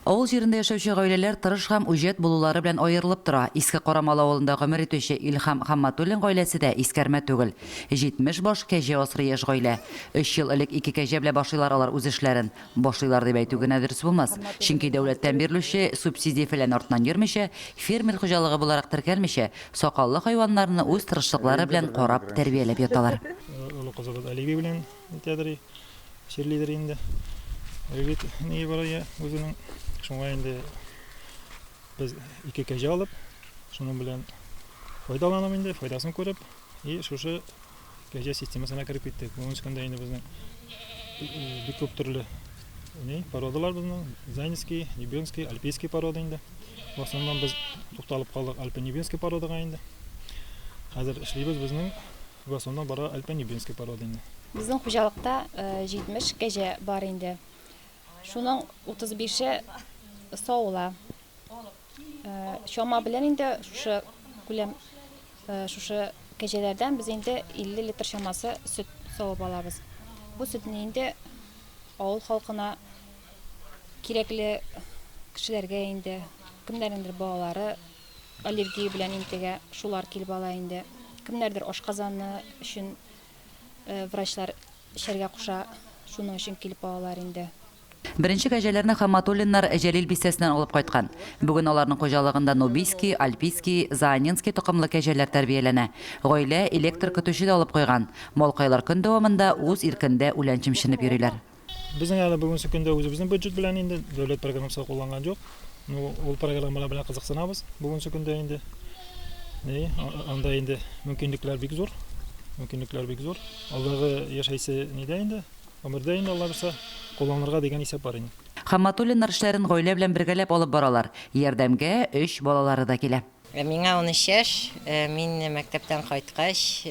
Авыл җирендә яшәүче гаиләләр тырыш һәм үҗәт булулары белән аерылып тора. Иске Карамал авылында гомер итүче Илһам Хамматуллин гаиләсе дә искәрмә түгел. 70 баш, кәҗә асрый яшь гаилә. Өч ел элек ике кәҗә белән башлыйлар алар үз эшләрен. Башлыйлар дип әйтү генә дөрес булмас. Чөнки дәүләттән бирелүче субсидия-фәлән артыннан йөрмичә, фермер хуҗалыгы буларак теркәлмичә, сакаллы хайваннарны үз тырышлыклары белән карап, тәрбияләп яталар. Олы кызыбыз Оливия белән. Әйтәдер и, чирлидер инде. Ревит нигә бара я үзенең. Шуңа инде без ике кәҗә алып, шуның белән файдаланып инде, файдасын күреп, и шушы кәҗә системасына кереп киттек. Бүгенге көндә инде безнең э, э, бик күп төрле ни породалар безнең, Зайнский, Небенский, Альпийский порода инде. В основном без тукталып калдык Альпинебинский породага инде. Хәзер эшлибез безнең Вә соннан бара Альпанибенский порода инде. Безнең хуҗалыкта 70 э, кәҗә бар инде. Шуның 35-е савыла. Э, чама белән инде шушы күләм э, шушы кәҗәләрдән без инде 50 литр чамасы сөт савып алабыз. Бу сөтне инде авыл халкына кирәкле кешеләргә инде кемнәрнеңдер балалары Аллергия белән интегә шулар килеп ала инде. Кемнәрдер ашказаны өчен врачлар эчәргә куша, шуның өчен килеп алалар инде. Беренче кәҗәләрне Хамматуллиннар Җәлил бистәсеннән алып кайткан. Бүген аларның хуҗалыгында нубийский, альпийский, заанинский токымлы кәҗәләр тәрбияләнә. Гаилә электр көтүче дә алып куйган. Малкайлар көн дәвамында үз иркендә үлән чемченеп йөриләр. Безнең әле бүгенге көндә үзебезнең бюджет белән инде дәүләт программасы кулланган юк. Ну, ул программалар белән кызыксынабыз бүгенге көндә инде. Ни, анда инде мөмкинлекләр бик зур. Мөмкинлекләр бик зур. Алдагы яшәйсе нидә инде? Гомердә инде Алла бирсә, кулланырга дигән исәп бар инде. Хамматуллиннар эшләрен гаилә белән бергәләп алып баралар. Ярдәмгә өч балалары да килә. Миңа унөч яшь. Мин мәктәптән кайткач,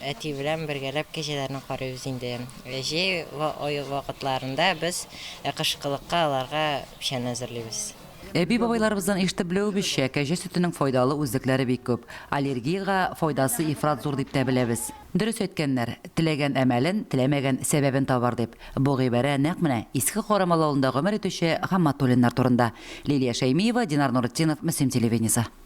әти белән бергәләп кәҗәләрне карыйбыз инде. Җәй вакытларында без кышкылыкка аларга печән әзерлибез. Әби-бабайларыбыздан ишетеп белүебезчә, кәҗә сөтенең файдалы үзлекләре бик күп. Аллергиягә файдасы ифрат зур дип тә беләбез. Дөрес әйткәннәр, Теләгән әмәлен, теләмәгән сәбәбен табар, дип. Бу гыйбарә нәкъ менә Иске Карамал авылында гомер итүче Хамматуллиннар турында. Лилия Шәймиева, Динар Нуретдинов, Мөслим телевидениесе.